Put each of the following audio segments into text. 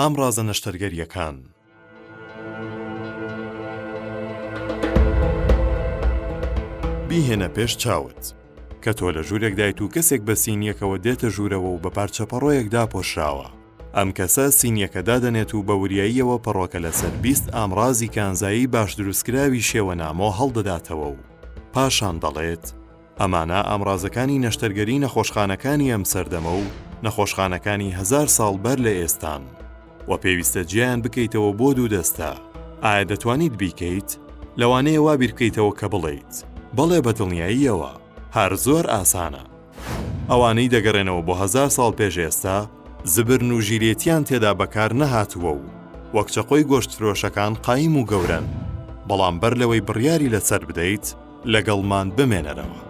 ئامڕازە نەشتەرگەرییەکان. بیهێنە پێش چاوت. کە تۆ لە ژوورێکدایت و کەسێک بە سینیەکەوە دێتە ژوورەوە و بە پارچە پەڕۆیەک داپۆشراوە. ئەم کەسە سینیەکە دادەنێت و بە وریاییەوە پەڕۆکە لەسەر بیست ئامڕازی کانزایی باش دروستکراوی شێوە نامۆ هەڵدەداتەوە و پاشان دەڵێت، ئەمانە ئامڕازەکانی نەشتەرگەری نەخۆشخانەکانی ئەم سەردەمە و نەخۆشخانەکانی هەزار ساڵ بەر لە ئێستان و پێویستە جێیان بکەیتەوە بۆ دوو دەستە، ئایا دەتوانیت بیکەیت؟ لەوانەیە وا بیر بکەیتەوە کە بڵێیت، بەڵێ بە دڵنیاییەوە، هەر زۆر ئاسانە. ئەوانەی دەگەڕێنەوە بۆ هەزار ساڵ پێش ئێستا، زبرن و ژیرێتییان تێدا بەکار نەهاتووە و وەک چەقۆی گۆشتفرۆشەکان قایم و گەورەن، بەڵام بەر لەوەی بڕیاری لەسەر بدەیت، لەگەڵمان بمێنەرەوە.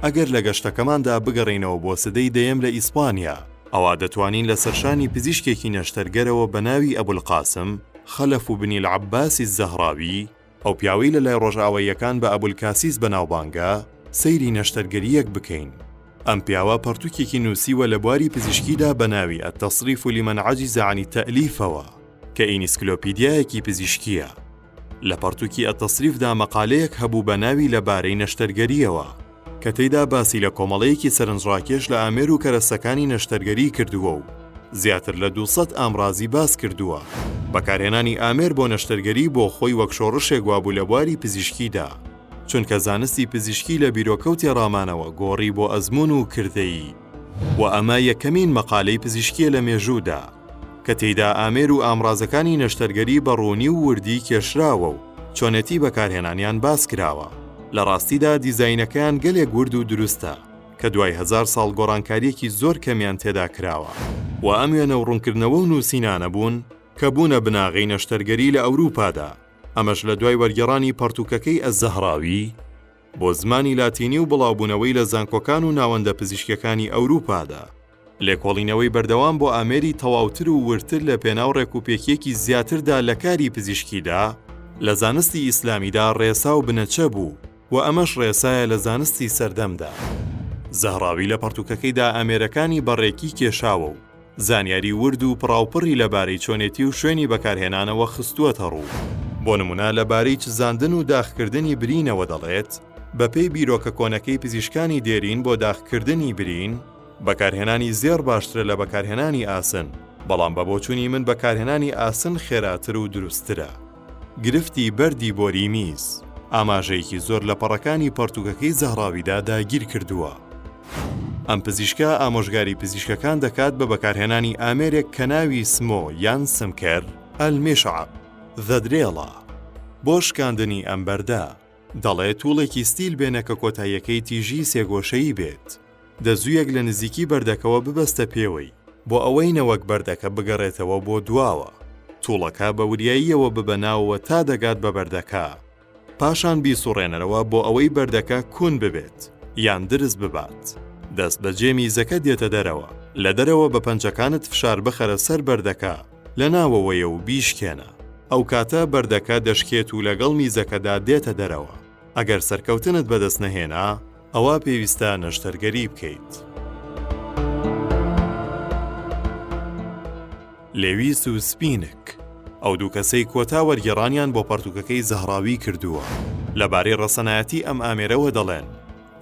ئەگەر لە گەشتەکەماندا بگەڕێینەوە بۆ سدەی دەیەم لە ئیسپانیا، ئەوا دەتوانین لە سەرشانی پزیشکێکی نەشتەرگەرەوە بە ناوی ئەبولقاسم، خەلەف بنی العباس الزەهراوی، ئەو پیاوەی لە لای ڕۆژئاواییەکان بە ئەبولکاسیس بەناوبانگە، سەیری نەشتەرگەرییەک بکەین. ئەم پیاوە پەڕتووکێکی نووسیوە لە بواری پزیشکیدا بە ناوی التصریف لمن عجز عن التألیفەوە، کە ئینسکلۆپیدیایەکی پزیشکییە. لە پەڕتووکی التصریفدا مەقالەیەک هەبوو بە ناوی لە بارەی نەشتەرگەرییەوە. کە تێیدا باسی لە کۆمەڵەیەکی سەرنجڕاکێش لە ئامێر و کەرەستەکانی نەشتەرگەری کردووە و زیاتر لە دوو سەد ئامڕازی باس کردووە. بەکارهێنانی ئامێر بۆ نەشتەرگەری بۆ خۆی وەک شۆڕشێک وابوو لە بواری پزیشکیدا، چونکە زانستی پزیشکی لە بیرۆکە و تێڕامانەوە گۆڕی بۆ ئەزموون و کردەیی و ئەمە یەکەمین مەقالەی پزیشکییە لە مێژوودا. کە تێیدا ئامێر و ئامڕازەکانی نەشتەرگەری بە ڕوونی و وردی کێشراوە و چۆنێتی بەکارهێنانیان باس کراوە، لە ڕاستیدا دیزاینەکەیان گەلێک ورد و دروستە، کە دوای هەزار ساڵ گۆڕانکارییەکی زۆر کەمیان تێدا کراوە. وە ئەم وێنە و ڕوونکردنەوە و نووسینانە بوون، کە بوونە بناغەی نەشتەرگەری لە ئەوروپادا، ئەمەش لە دوای وەرگێڕانی پەڕتووکەکەی ئەلزەهراوی بۆ زمانی لاتینی و بڵاوبوونەوەی لە زانکۆکان و ناوەندە پزیشکییەکانی ئەوروپادا. لێکۆڵینەوەی بەردەوام بۆ ئامێری تەواوتر و وردتر لە پێناو ڕێکوپێکیەکی زیاتردا لە کاری پزیشکیدا، لە زانستی ئیسلامیدا ڕێسا و بنەچە بوو و ئەمەش ڕێسایە لە زانستی سەردەمدا. زەهراوی لە پەڕتووکەکەیدا ئامێرەکانی بە ڕێکی کێشاوە و زانیاری ورد و پڕاوپڕی لە بارەی چۆنێتی و شوێنی بەکارهێنانەوە خستووەتە ڕوو. بۆ نموونە لە بارەی چزاندن و داخکردنی برینەوە دەڵێت، بە پێی بیرۆکە کۆنەکەی پزیشکانی دێرین بۆ داخکردنی برین، بەکارهێنانی زێڕ باشترە لە بەکارهێنانی ئاسن، بەڵام بە بۆچوونی من بەکارهێنانی ئاسن خێراتر و دروستترە. گرفتی بەردی بۆری میز، ئاماژەیەکی زۆر لە پەڕەکانی پەڕتووکەکەی زەهراویدا داگیر کردووە. ئەم پزیشکە ئامۆژگاری پزیشکەکان دەکات بە بەکارهێنانی ئامێرێک کە ناوی سمۆ یان سمکەر، المشعب، The Drill، ە بۆ شکاندنی ئەم بەردە. دەڵێت، توڵێکی ستیل بێنە کە کۆتاییەکەی تیژی سێگۆشەیی بێت. دەزوویەک لە نزیکی بەردەکەوە ببەستە پێوەی، بۆ ئەوەی نەوەک بەردەکە بگەڕێتەوە بۆ دواوە. توڵەکە بە وریاییەوە ببە ناوەوە تا دەگات بە بەردەکە. پاشان بیسوڕێنەرەوە بۆ ئەوەی بەردەکە کون ببێت یان درز ببات. دەست بە جێ میزەکە دێتە دەرەوە. لە دەرەوە بە پەنجەکانت فشار بخەرە سەر بەردەکە لە ناوەوەیە و بیشکێنە. ئەو کاتە بەردەکە دەشکێت و لەگەڵ میزەکەدا دێتە دەرەوە. ئەگەر سەرکەوتنت بەدەست نەهێنا، ئەوا پێویستە نەشتەرگەری بکەیت. لێویس و سپینک، ئەو دوو کەسەی کۆتا وەرگێڕانیان بۆ پەڕتووکەکەی زەهراوی کردووە، لەبارەی ڕەسەنایەتی ئەم ئامێرەوە دەڵێن،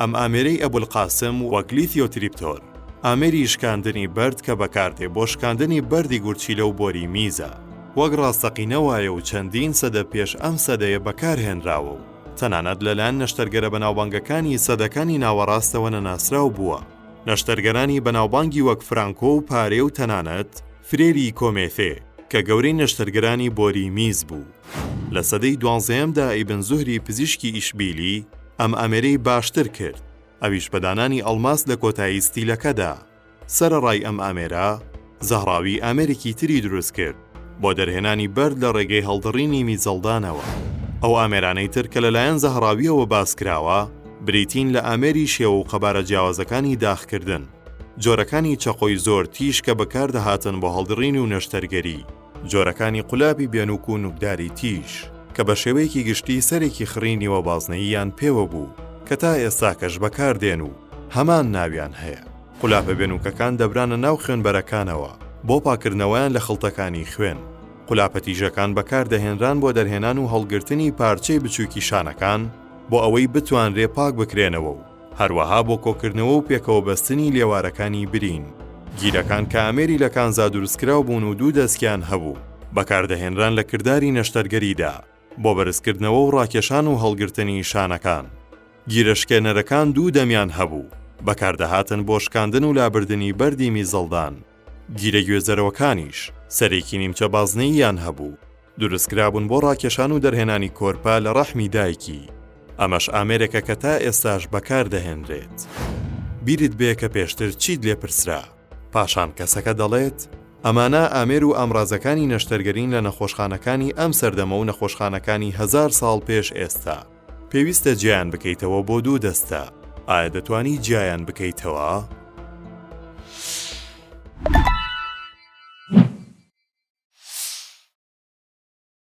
ئەم ئامێرەی ئەبولقاسم وەک لیثیۆتریپتۆر، ئامێری شکاندنی بەرد کە بەکاردێ بۆ شکاندنی بەردی گورچیلە و بۆری میزە، وەک ڕاستەقینە وایە و چەندین سەدە پێش ئەم سەدەیە بەکارهێنراوە و تەنانەت لەلایەن نەشتەرگەرە بەناوبانگەکانی سەدەکانی ناوەڕاستەوە نەناسراو بووە. نەشتەرگەرانی بەناوبانگی وەک فرانکۆ و پارێ و تەنانەت فرێری کۆمێثێ کە گەورەی نەشتەرگەرانی بۆری میز بوو، لە سەدەی دوانزەیەمدا ئیبن زوهری پزیشکی ئیشبیلی ئەم ئامێرەی باشتر کرد، ئەویش بە دانانی ئەڵماس لە کۆتایی ستیلەکەدا. سەرەڕای ئەم ئامێرە، زەهراوی ئامێرێکی تری دروست کرد بۆ دەرهێنانی بەرد لە ڕێگەی هەڵدڕینی میزەڵدانەوە. ئەو ئامێرانەی تر کە لەلایەن زەهراوییەوە باس کراوە، بریتین لە ئامێری شێوە و قەبارە جیاوازەکانی داخکردن، جۆرەکانی چەقۆی زۆر تیژ کە بەکاردەهاتن بۆ هەڵدڕین و نەشتەرگەری، جۆرەکانی قولابی بێنوک و نوکداری تیژ کە بە شێوەیەکی گشتی سەرێکی خڕی نیوە بازنەییان پێوە بوو کە تا ئێستاکەش بەکاردێن و هەمان ناویان هەیە. قولاپە بێنوکەکان دەبرانە ناو خوێنبەرەکانەوە بۆ پاککردنەوەیان لە خڵتەکانی خوێن. قولاپە تیژەکان بەکاردەهێنران بۆ دەرهێنان و هەڵگرتنی پارچەی بچووکی شانەکان بۆ ئەوەی بتوانرێ پاک بکرێنەوە و هەروەها بۆ کۆکردنەوە و پێکەوە بەستنی لێوارەکانی برین. گیلەکان کە ئامێری لە کانزا دروستکراو بوون و دوو دەستکیان هەبوو، بەکاردەهێنران لە کرداری نەشتەرگەریدا بۆ بەرزکردنەوە و ڕاکێشان و هەڵگرتنی شانەکان. گیرە شکێنەرەکان دوو دەمیان هەبوو، بەکاردەهاتن بۆ شکاندن و لابردنی بەردی میزەڵدان. گیرە گوێزەرەوەکانیش سەرێکی نیمچە بازنەییان هەبوو، دروستکرابوون بۆ ڕاکێشان و دەرهێنانی کۆرپە لە ڕەحمی دایکی، ئەمەش ئامێرێکە کە تا ئێستاش بەکاردەهێنرێت. بیرت بێ کە پێشتر چیت لێ پرسرا؟ پاشان کەسەکە دەڵێت، ئەمانە ئامێر و ئامرازەکانی نەشتەرگەرین لە نەخۆشخانەکانی ئەم سەردەمە و نەخۆشخانەکانی هەزار ساڵ پێش ئێستا. پێویستە جیایان بکەیتەوە بۆ دوو دەستە ئایا دەتوانی جیایان بکەیتەوە؟